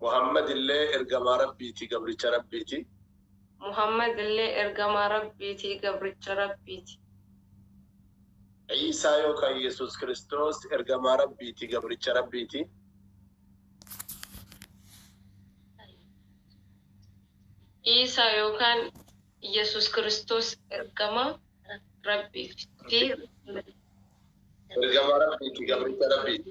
Muhammadillee ergamaa Rabbiiti, gabricha Rabbiiti. Muhammadillee ergamaa Rabbiiti, gabricha Rabbiiti. Iisaa yookaan Yesuus Kiristoos ergamaa Rabbiiti, gabricha Rabbiiti. Iisaa yookaan Yesuus Kiristoos ergamaa Rabbiiti. Ergamaa Rabbiiti, gabricha Rabbiiti.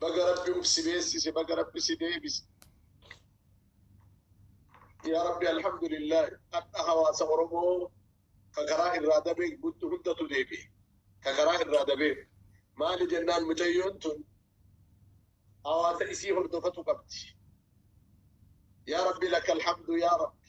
Baga rabbi uf si beessise baga rabbi si deebise. Yaa rabbi alhamdulillahi hadha hawaasa oromoo ka karaa irraa dabee guttu hundatu deebi'e ka karaa irraa dabee maali jennaan mucayyoon tun hawaasa isii hordofatu qabdi. Yaa rabbi lakal hamdu yaa rabbi.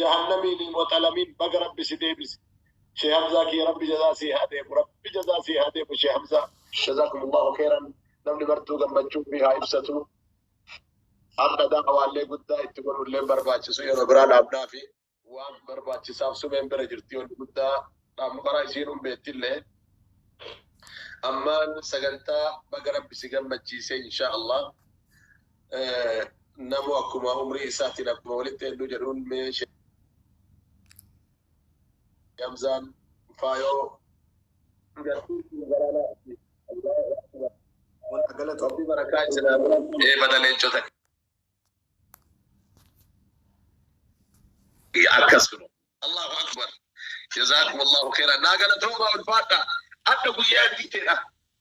Jahannamiini waxalamin baga rabbi si deebise shee hamzaa kiyya rabbi jazaa sii haa deebu rabbi jazaa sii haa deebu shee hamzaa. Jazakumullahu keeran namni martuu gammachuu ufii haa ibsatu ardha da'awaallee guddaa itti godhulleen barbaachisu yeroo biraa dhaabnaafi waan barbaachisaaf sumeen bira jirti wanni guddaa dhaabnu karaa isiinun beettillee ammaan sagantaa baga rabbi si gammachiise inshaa Allah Namu akkuma umrii isaatiin akkuma walitti hedduu jedhuun mee Hamzaan faayoo Rabbi barakaa isinaa ee bada leencota akkas kuno Allahu akbar jazakum Allahu khairan naa galatoomaa ulfaadha adda guyyaa diiteedha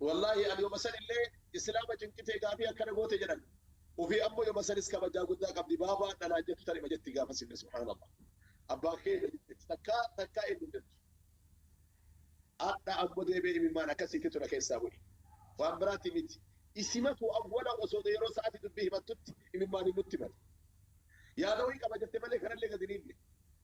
Wallaahi an yoma sanillee islaama cinqitee gaafii akkana goote jedhan ofii ammo yoma sanis kabajaa guddaa qabdi baaba adha naan jettu tanima jetti gaafasillee subhaanallah abbaa kee eenyu jetti takkaa takkaa eenyu hin jettu adha ammo deebee imimmaan akkasiititu na keessaa bu'e waan biraati miti isimatu awwala osoo yeroo sa'aati dubbii himattutti imimmaaniin nutti male yaada wayii qaba jette malee kanallee gadi niinne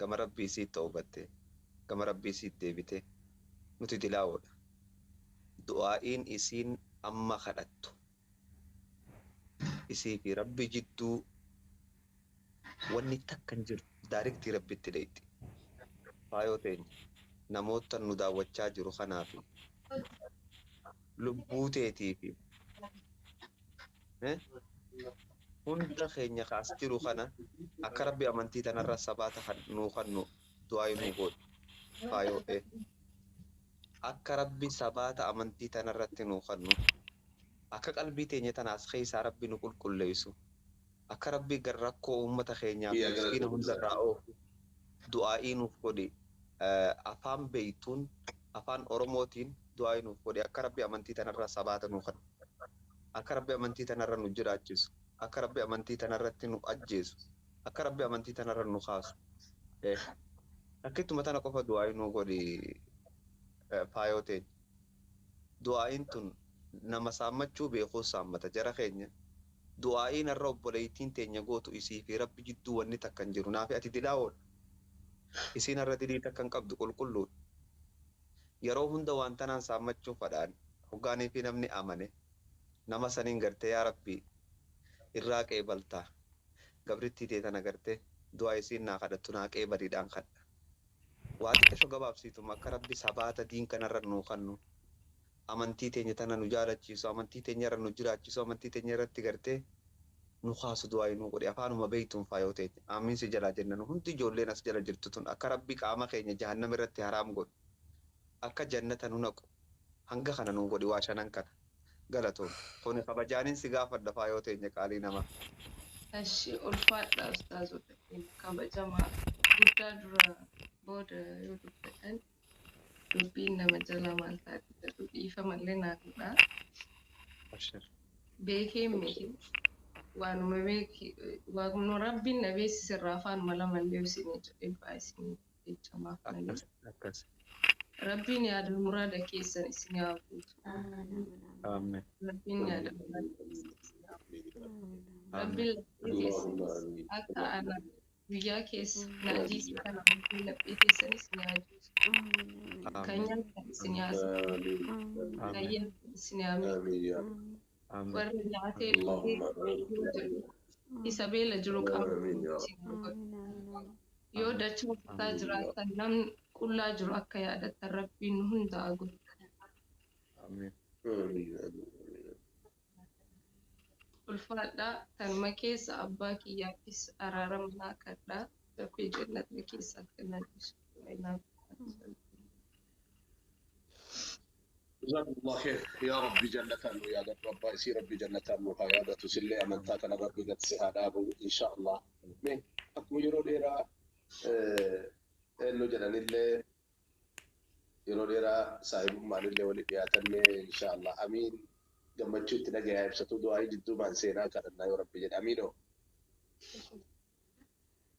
gama rabbii isiit tawbatte gama rabbii isiit deebite nuti dilaawoodha du'aa'iin isiin amma kadhattu isii fi rabbi jidduu wanni takka hin jirtu daariktii rabbitti dheyxi faayoo teenya namoottan nu daawwachaa jiru kanaa fi lubbuu teetii fi Hunda keenya ka as jiru kana akka Rabbi amantii tanarra sabaata kan nuu kannu du'aa'ii nuu goodhu. Faayoo A. Akka Rabbi sabaata amantii tanarratti nuu kannu, akka qalbii teenya tana as keessaa Rabbi nu qulqulleessu, akka Rabbi rakkoo ummata keenyaa fi miskiina hundarraa oofu du'aa'ii nuuf godhi. Afaan beeytuun, Afaan Oromootiin du'aa'ii nuuf godhi akka Rabbi amantii tanarra sabaata nuu kannu. Akka Rabbi amantii tanarra nu jiraachisu, akka Rabbi amantii tanarratti nu ajjeesu, akka Rabbi amantii tanarra nu kaasu. Sheikh. Takkittuma tana qofa du'aa'ii nuu godhi faayoo teenya. Du'aa'iin tun nama saammachuu beekuus saammata. Jara keenya, du'aa'iin har'a obboleeytiin teenya gootu isii fi Rabbi jidduu wanni takka hin jiru. Naa fi ati dilaawoodha. Isiin har'a dilii takka hin qabdu, qulqulluudha. Yeroo hunda waan tanaan saammachuun fadhaan hoggaaniifii namni amane nama saniin gartee yaa Rabbii irraa qeebaltaa gabrittii tee tana gartee du'aa isiin naa kadhattu naa qeebaliidhaan kadha waa xiqasho gabaabsiituma akka Rabbi sabaata diin kanarra nuu kannu amantii teenya tana nu jaalachiisu, amantii teenya irra nu jiraachisu, amantii teenya irratti gartee nu kaasu du'aayi nuu godhi afaanuma beeytuun faayoo teenya aamiin si jalaa jenna nu hundi ijoolleen as jala jirtu tun akka rabbi qaama keenya jahannam irratti haraam godhu akka jannata nu naqu hanga kana nuu godhi waa shanan kana galatoomi kuni kabajaanin si gaafadha faayoo teenya qaalii namaa. Eshi ulfaadhaa ustaazota keenya kabajamaa guddaa dura booda yoo dubbatan Dubbiin nama jalaa maal taati jedhu dhiifama illee naa godhaa. Abshir. Beekeen miti. Waanuma beeki waanuma rabbiin na beeksise irraa afaan mala mallee isinii jedhee du'aa isinii jecha maaf malee. Akkas akkas. Rabbiin yaadul muraada keessan isinii haa guutu. Amen. Rabbiin yaadul muraada keessan isinii haa guutu. Amen. Rabbiin laphee keessan akka ana guyyaa keessa naajii si kana hundee laphee keessanis naajii kanya sinyaasa kayya sinyaami warra nyaatee dhugee yoo jedhu isa beela jiru qaama yoo dachaa kutaa jiraatan namni qullaa jiru akka yaadattan rabbiin hundaa godhu. Amin. Ulfaadhaa kanuma keessa abbaa kiyyaafis araarama naa kadhaa rabbi jannata keessa akka naa dhiisu du'aayi naaf godhaa. Jazakumullah kheer yaa rabbi jannataan nu yaadadhu abbaa isii rabbi jannataan nu haa yaadatu sillee amantaa kana rabbi gad si haa dhaabu inshaa allah mee akkuma yeroo dheeraa eennu jedhanillee yeroo dheeraa saahibummaaninle wali dhiyaatanne inshaa Allah amiin gammachuu itti dhagayaa ibsatuu du'aa'ii jidduumaan seenaa kadhannaa yoo rabbi jedhe amiinoo.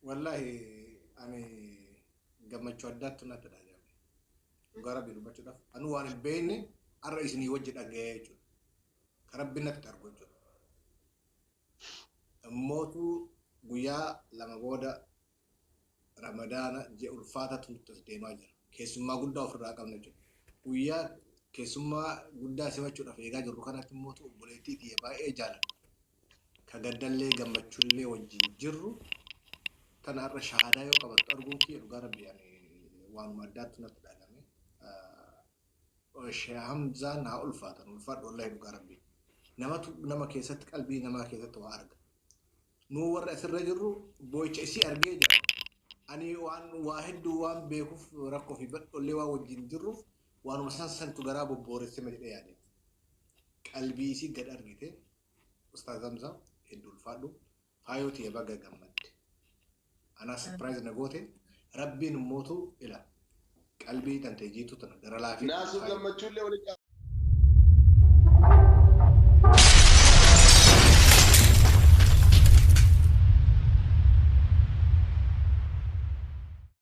Wallahi ani gammachuu addaattu natti dhaga'ame. Dhugaa rabbii dubbachuudhaaf anuu waan hin beekne har'a isinii wajji dhaga'ee jechuudha. Ka rabbi natti argu jechuudha. Immootu guyyaa lama booda Ramadaana ji'a ulfaataa xumurtee as deemaa jira. Keessummaa guddaa ofirraa qabna jechuudha. Guyyaa keessummaa guddaa simachuudhaaf eegaa jirru kanatti immoo obboleettii tiyya baay'ee jaaladhu. Ka gaddallee gammachuullee wajjin jirru tana har'a shahaadaa yoo qabattu arguun kiyya dhugaa rabbi ani waanuma addaattu natti dhagame. Sheekh Hamzaan haa ulfaatan ulfaadhu wallahi dhugaa rabbi. Namatu nama keessatti qalbii namaa keessatti waa arga. Nuu warri as irra jirru boo'icha isii argee jira. Ani waan waa hedduu waan beekuuf rakkoo fi badhollee waan wajjin jirruuf waanuma san santu garaa bobbooressema jedhee yaade. Qalbii isii gad argite. Ustaaz Hamza hedduu ulfaadhu. Faayoo tiyya baga gammadde. Anaa surprise na goote rabbiin immootu ila qalbii tantee jiituu tana gara laafee Naasuu kaayi. gammachuullee walitti